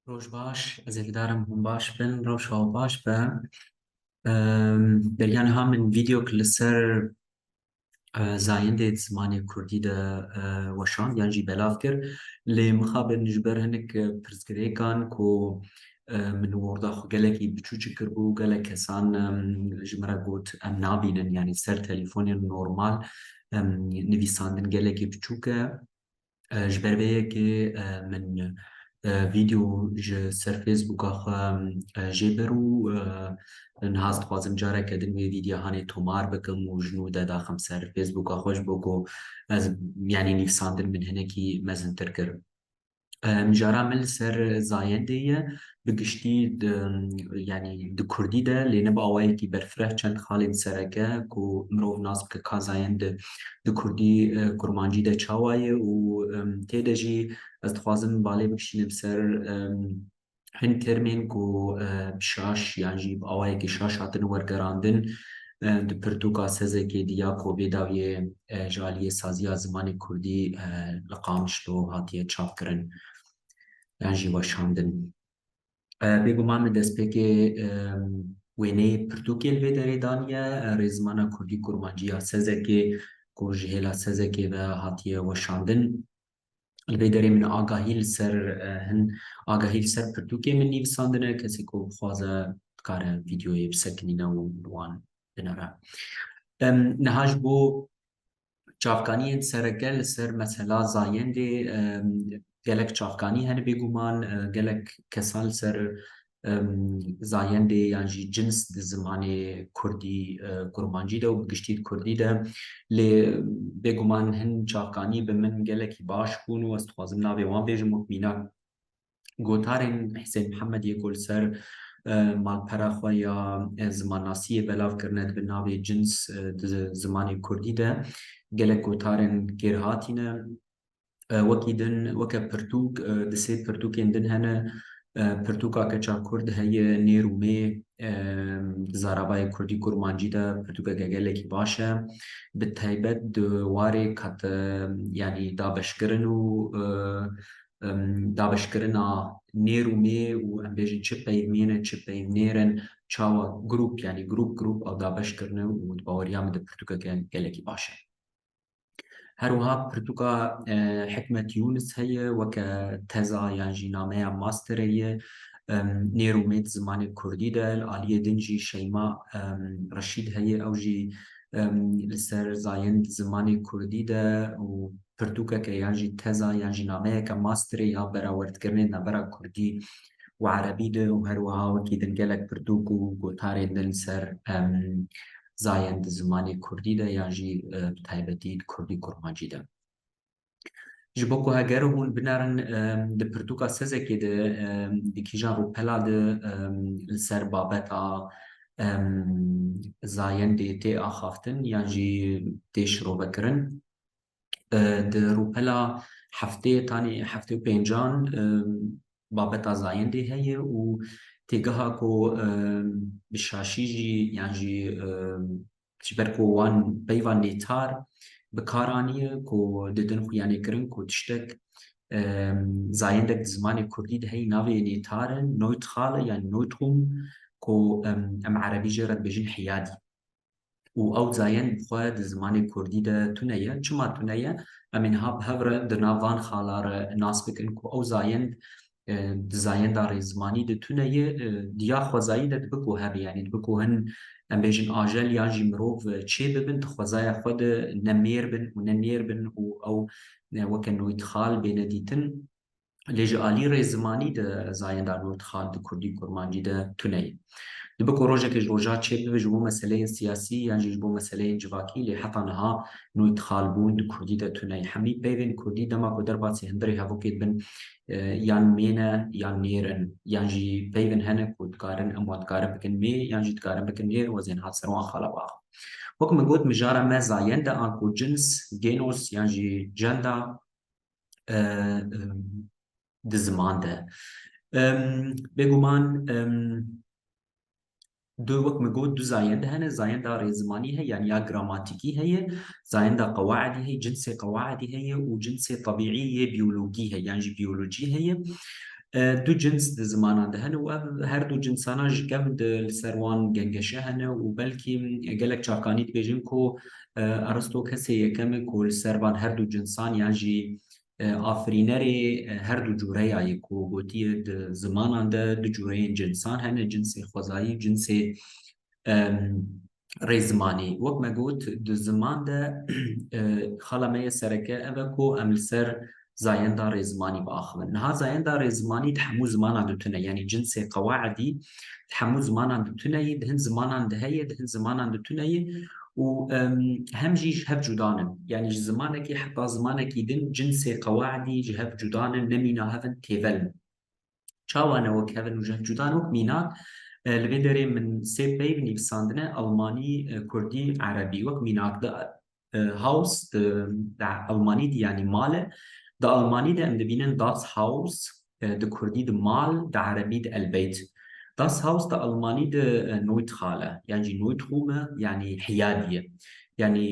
Roj baş, ez ê didarim hûn baş bin, rewşa wan baş be. Beriya niha min vîdeok li ser zayendê di zimanê kurdî de weşand yan jî belav kir. Lê mixabin ji ber hinek pirsgirêkan ku min û orda xwe gelekî biçûçik kiribû, gelek kesan ji min re got em nabînin yanî ser telîfonên normal nivîsandin gelekî biçûk e. ji ber vê yekê min vîdeo ji ser Facebooka xwe jê bir û niha ez dixwazim careke din wê vîdyohanê tomar bikim û ji nû de daxim ser Facebooka xwe ji bo ku ez yanî nivîsandin min hinekî mezintir kir. Mijara min li ser zayendê ye bi giştî di yanî di kurdî de lê ne bi awayekî berfireh çend xalên sereke ku mirov nas bike kazayên di di kurdî kurmancî de çawa ye û tê de jî ez dixwazim balê bikişînim ser hin termên ku bi şaş yan jî bi awayekî şaş hatin wergerandin di pirtûka Sezekê di ya ku bêdawiyê ji aliyê saziya zimanê kurdî li Qamişlo hatiye çapkirin. yan jî weşandin. Bêguman li destpêkê wêneyê pirtûkê li vê derê daniye, rêzimana kurdî kurmancî ya Sezekê ku ji hêla Sezekê ve hatiye weşandin. Li vê derê min agahî li ser hin agahî li ser pirtûkê min nivîsandine, kesê ku bixwaze dikare vîdeoyê bisekinîne û wan binere. Niha ji bo Çavkaniyên sereke li ser mesela zayendê gelek çavkanî hene bêguman gelek kesan li ser zayendê yan jî cins di zimanê kurdî kurmancî de û bi giştî di kurdî de lê bêguman hin çavkanî bi min gelekî baş bûn û ez dixwazim navê wan bêjim wek mînak Gotarên Hisên Mihemed yê ku li ser malpera xwe ya zimannasiyê belav kirine di bin navê cins di zimanê kurdî de gelek gotarên kêr hatîne. Wekî din weke pirtûk di sê pirtûkên din hene. Pirtûka keça kurd heye nêr û mê di zarabayê kurdî kurmancî de pirtûkeke gelekî baş e. Bi taybet di warê kat yanî dabeşkirin û dabeşkirina nêr û mê û em bêjin çi peyv mêr in, çi peyv nêr in, çawa grûp yanî grûp grûp ew dabeş kirine û di baweriya min de pirtûkeke gelekî baş e. Her wiha pirtûka Hikmet Yûnis heye weke teza yan jî nameya masterê ye nêr û mê di zimanê kurdî de. Li aliyê din jî Şeyma Reşîd heye ew jî li ser zayend zimanê kurdî de û pirtûkeke yan jî teza yan jî nameyeke masterê ya berawerdkirinên navbera kurdî û erebî de û her wiha wekî din gelek pirtûk û gotarên din li ser zayend di zimanê kurdî de yan jî bi taybetî di kurdî kurmancî de. Ji bo ku heger û hûn binerin di pirtûka Sezekê de di kîjan rûpela de li ser babeta zayendê tê axaftin yan jî tê şirovekirin Di rûpela heftê tanî heftê û pêncan babeta zayendê heye û têgeha ku bi şaşî jî yan jî ji ber ku wan peyva nêtar bi kar aniye ku didin xwe yanê kirin ku tiştek zayendek di zimanê kurdî de heye navê nêtar e Noytxale yan Noytxum ku em erebî jê re dibêjin Hiyadî. û ew zayên bi xwe di zimanê kurdî de tune ye. Çima tune ye? Em ê niha bi hev re di nav van xala re nas bikin ku ew zayend di zayenda rêzmanî de tune ye. Di ya xwezayî de dibe ku hebe yanî dibe ku hin em bêjin ajel yan jî mirov çê bibin di xwezaya xwe de ne mêr bin û ne nêr bin û ew weke noytxal bêne dîtin. lê ji alî rê zimanî di zayenda nû dixand kurdî kurmancî de tune ye. Dibe ku rojekê ji roja çêb bibe ji bo meseleyên siyasî yan jî ji bo meseleyên civakî lê heta niha nû dixalbûn di kurdî de tune ye. Hemî peyvên kurdî dema ku derbasî hundirê hevokê dibin yan mê ne yan nêr in yan jî peyvên hene ku dikarin em wan dikarin bikin mê yan jî dikarin bikin nêr wezên hat ser wan xalabax in. Wek min got mijara me zayende an ku cins, gênos yan jî gender, di ziman de. Bêguman du wek min got du zayend hene, zayenda rêzimanî heye yanî ya gramatîkî heye, zayenda qewaidî heye, cinsê qewaidî heye û cinsê tebîî yê biyologî heye yan jî biyolojî heye. Du cins di zimanan de hene û ev her du cinsanan ji kev di li ser wan gengeşe hene û belkî gelek çakanî dibêjin ku Aristo kesê yekem e ku li ser van herdu cinsan yan jî afirînerê herdu cure ya ye ku gotiye di zimanan de du cureyên cinsan hene, cinsê xwezayî û cinsê rêzimanî. Wek me got di ziman de xala me ya sereke ev e ku em li ser zayenda rê zimanî biaxivin. Niha zayenda rê zimanî di hemû zimanan di tune yanî cinsê qewaidî di hemû zimanan di tune yî, di hin zimanan di heye, di hin zimanan di tune yî û hem jî ji hev cudan in. Yanî ji zimanekî heta zimanekî din cinsê qewaidî ji hev cudan in, nemîna hev in, têvel in. Çawa ne wek hev in û ji hev cuda ne wek mînak. Li vê derê min sê peyv nivîsandine Elmanî, Kurdî, Erebî. Wek mînak di Haus di Elmanî dî yanî mal e. Di Elmanî de em dibînin Das Haus, di Kurdî di mal, di Erebî di Elbeyt. Das Haus di Elmanî di Neutral e yan jî Neutrum e yanî hiyadî ye. Yanî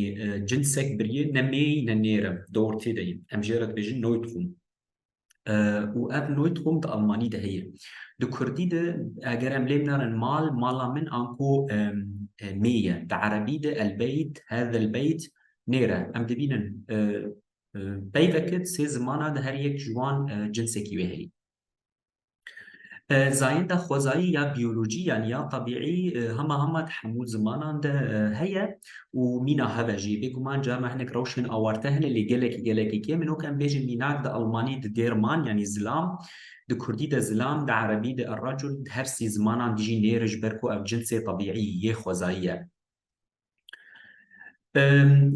cinsek birî ne mêy ne nêr e di ortê de yî. Em jê re dibêjin Neutrum. û ev Neutroum di almanî de heye. Di kurdî de eger em lêm nerin mal, mala min an ku mê ye. Di erebî de elbeyt, hada elbeyt nêre. Em dibînin peyveke di sê zimana de her yek ji wan cinsekî wê heye. Zayenda xwezayî ya biyolojî yan ya tebîî hema hema di hemû zimanan de heye û mîna hev e jî. Bêguman carna hinek rewşên awarte hene lê gelekî gelekî kêm in. Wek em bêjin mînak di elmanî di dêr man yanî zilam, di kurdî de zilam, di erebî de errecul, di her sî zimanan de jî nêr e ji ber ku ev cinsê tebîî yê xwezayî ye.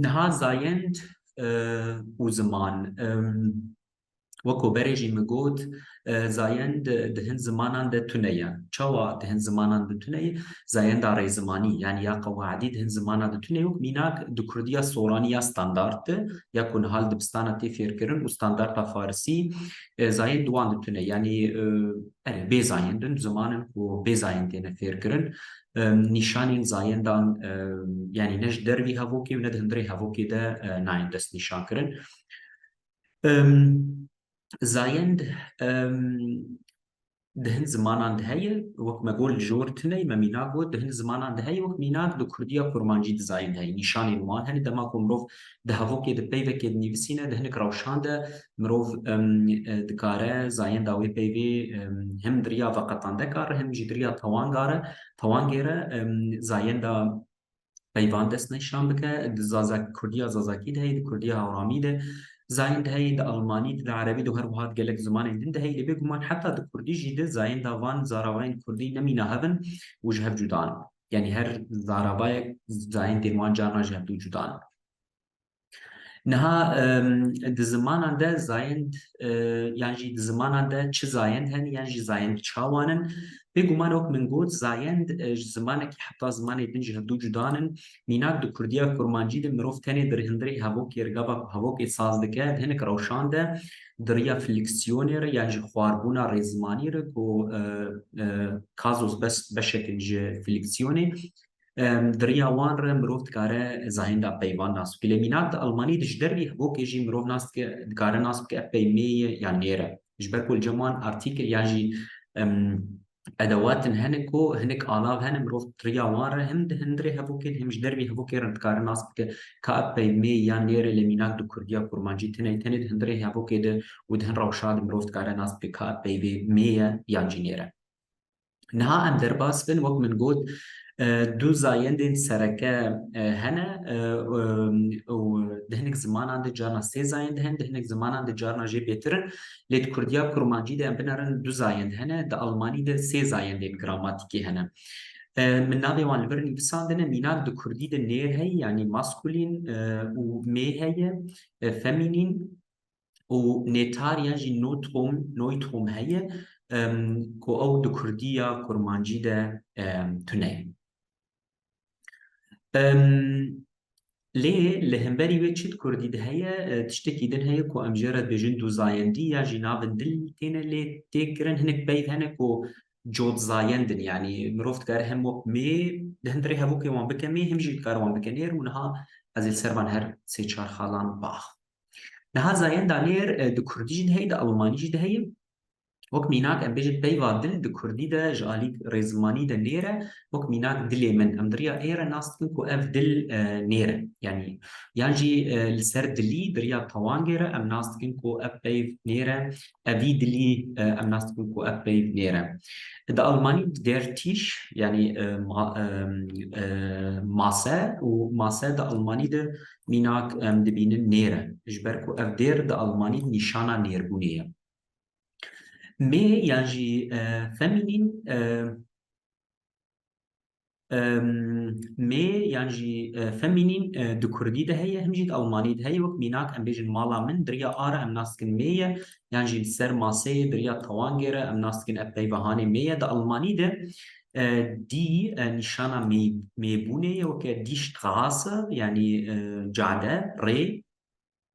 Niha zayend û ziman. Weko berê jî min got, zayend di hin zimanan de tune ye. Çawa di hin zimanan de tune ye? Zayenda rêzimanî yanî ya qewaedî di hin zimanan de tune ye û mînak di kurdiya soranî ya standard de ya ku niha li dibistana tê fêrkirin û standarda farisî zayend di wan de tune ye. Yanî erê bê zayend in, ziman in ku bê zayend têne fêrkirin. Nîşanên zayendan yanî ne ji dervî hevokê û ne di hundirê hevokê de nayên destnîşankirin. Zayend di hin zimanan de heye wek me got li jor tune me mînak got di hin zimanan de heye wek mînak di kurdiya kurmancî di zayend heye nîşanên wan hene dema ku mirov di hevokê di peyvekê dinivîsîne di hinek rewşan de mirov dikare zayenda wê peyvê him diriya veqetandekar him jî diriya tewangare tewangêre zayenda peyvan dest nîşan bike di zazak kurdiya zazakî de heye di kurdiya hawramî de zayên de heye di almanî di erebî de her wiha di gelek zimanên din de heye lê bêguman heta di kurdî jî de zayên da van zaravayên kurdî nemîna hev in û ji hev cuda in yanî her zaravayek zayên tên wan carna ji hev dû cuda in. Niha di zimanan de zayend yan jî di zimanan de çi zayend hene yan jî zayend çawan in. Bêguman wek min got zayend ji zimanekî heta zimanê din ji hev du cudan in. Mînak di kurdiya kurmancî de mirov tenê di rihindirê hevokê re gava ku hevokê saz dike di hinek rewşan de di riya fliksiyonê re yan jî xwarbûna rêzimanî re ku kazos bes beşek in ji fliksiyonê Di riya wan re mirov dikare zahênda peyvan nas bike. Lê mînak di Almanî de ji dervî hevokê jî mirov nas dike dikare nas bike ev peymê ye yan nêr e. Ji ber ku li cem wan artîkil yan jî edewatin hene ku hinek alav hene mirov di riya wan re him di hundirê hevokê de him ji dervî hevokê re dikare nas bike ka ev peymê yan nêr e lê mînak di kurdiya kurmancî tenê tenê di hundirê hevokê de û di hin rewşa de mirov dikare nas bike ka ev peybê mê ye yan jî nêr e. Niha em derbas bin wek min got du zayendên sereke hene û di hinek zimanan de carna sê zayend hene, di hinek zimanan de carna jê bêtir in. Lê di kurdiya kurmancî de em binerin du zayend hene, di almanî de sê zayendên gramatîkî hene. Min navê wan li vir nivîsandine, mînak di kurdî de nêr heye yanî maskulîn û mê heye femînîn. û nêtariya jî Notrom, Neutrum heye ku ew di kurdî ya kurmancî de tune ye. Lê li hemberî wê çi di kurdî de heye? Tiştekî din heye ku em jê re dibêjin dûzayendî ya jî navên din têne lê têk kirin. Hinek peyv hene ku cotzayendin yanî mirov dikare hem wek mê di hin dirê hevokê wan bike mê hem jî dikare wan bike nêr û niha ez ê li ser van her sê çar xalan biaxivim. Niha zayên danêr di kurdî jî de heye, di almanî jî de heye. Wek mînak em bêjin peyva dil di kurdî de ji alî rêzimanî de nêr e. Wek mînak dilê min em di riya ê re nas dikin ku ev dil nêr e. Yanî yan jî li ser dilî di riya tewangê re em nas dikin ku ev peyv nêr e Evî dilî em nas dibin ku ev peyv nêr e. Di Almanî der tîş yanî mase û mase di Almanî de mînak em dibînin nêr e. Ji ber ku ev dêr di Almanî nîşana nêrbûnê ye. Mê yan jî femînîn mê yan jî femînîn di kurdî de heye him jî di elmanî de heye wek mînak em bêjin mala min diriya a re em nas dikin mê ye yan jî li ser maseyê diriya tewangê re em nas dikin ev peyva hanê mê ye di elmanî de dî nîşana mê mêbûnê ye weke dîşt gehase yanî cade rê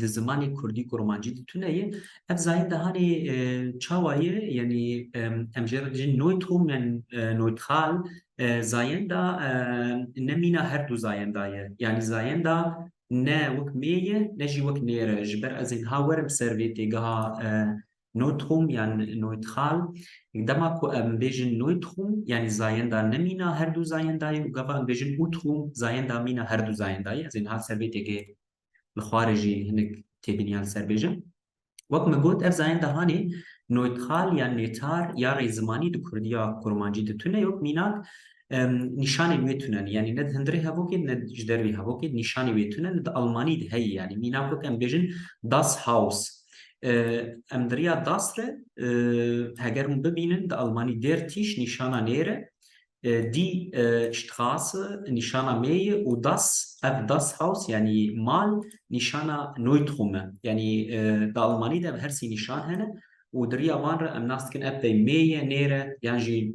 di zimanê kurdî ku romancî di tune ye ev zayende hanê çawa ye yanî em jê re dijîn Neutroum yan neutral zayenda ne mîna her du zayenda ye yanî zayenda ne wek mê ye ne jî wek nê re ji ber ez ê niha werim ser vê têgeha Neutrum yan neutral dema ku em bêjin neutrum yanî zayenda nemîna her du zayendayê û gava em bêjin utrum zayenda mîna her du zayendayê ez ê niha ser vê têkê li xwarê jî hinek têbîniya li ser bêjim. Wek min got ev zayenda hanê neutral yan nêtar ya rêzimanî di kurdiya kurmancî de tune yok mînak nîşanên wê tune ne yanî ne di hundirê hevokê ne ji dervê hevokê nîşanê wê tune ne di Almanî de heye yanî mîna ku em bêjin Das Haus em di riya Das re heger hûn bibînin di Almanî Der Tisch nîşana nê re dî Strasse nîşana mê ye û Das ev Das Haus yanî mal nîşana Neutrum e yanî di Almanî de ev her sî nîşan hene û di riya van re em nas dikin ev pey mê ye nê re yan jî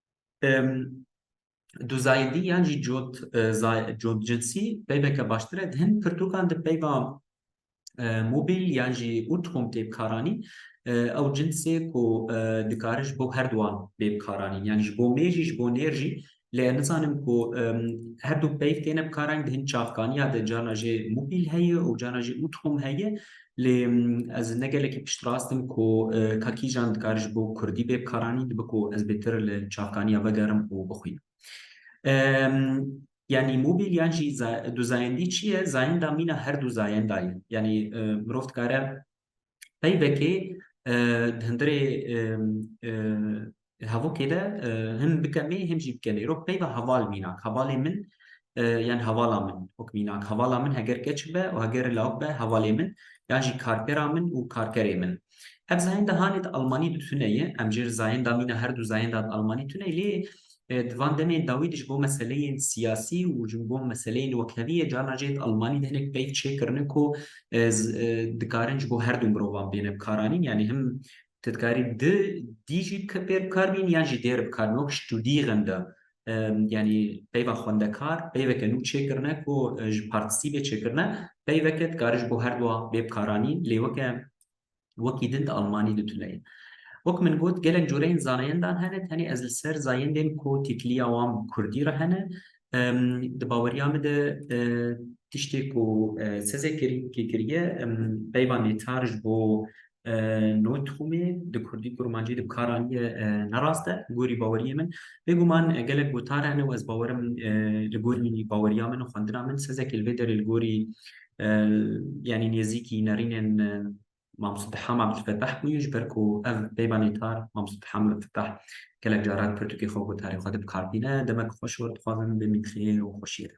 Duzayîdî yan jî cot cotcinsî peyveke baştir e. Di hin pirtûkan de peyva mobîl yan jî ûtxûm tê bikaranîn. Ew cinsê ku dikare ji bo her duwan bê bikaranîn. Yanî ji bo mêr jî ji bo nêr jî. Lê nizanim ku her du peyv têne bikaranîn di hin çavkaniya de carna jê mobîl heye û carna jî ûtxûm heye. Lê ez ne gelekî piştrast im ku ka kîjan dikare ji bo kurdî bê bikaranîn, dibe ku ez bêtir li çavkaniya ve gerim û bixwînim. Yanî mobîl yan jî du zayendî çi ye? Zayenda mîna her du zayenda ye. Yanî mirov dikare peyvekê di hundirê Hevokê de him bikemê him jî bikemê îro peyva heval mînak hevalê min yan hevala min ok mînak hevala min heger keç be û heger lawik be hevalê min yan jî karkera min û karkerê min. Ev zayenda hanê di almanî de tune ye em jê zayenda mîna her du zayenda di almanî tune ye lê di van demên dawî de ji bo meseleyên siyasî û ji bo meseleyên wekhevî yê carna jê di almanî de hinek peyv çêkirine ku dikarin ji bo her du mirovan bêne bikaranîn yanî him Tu dikarî di dî jî pê bi kar bînî yan jî dêr bi kar bînî wek studîyixin de yanî peyva xwendekar peyveke nû çêkirine ku ji partîsîbê çêkirine peyveke dikarî ji bo her dua bê bi karanî lê weke wekî din di almanî di tune ye. Wek min got gelek coreyên zaneyendan hene tenê ez li ser zayendên ku tîtlîya wan bi kurdî re hene Di baweriya min de tiştê ku Seze Kêrînkî kiriye peyva nêtar ji bo no tixûmê di kurdî û kurmancî de bikar anîye ne rast e. Li gorî baweriyê min bêguman gelek gotar hene û ez bawer im li gorî baweriya min û xwendina min Sezekî li vê derê li gorî yanî nêzîkî nerînên Mam Sittiha Mam Fetah bûye ji ber ku ev peyva nêtar Mam Sittiha Mam Fetah gelek caran pirtûkê xwe û gutarê xwe dibikarbîne. Demek xweş û dixwazin bê mîtriyê û xweşiyê de.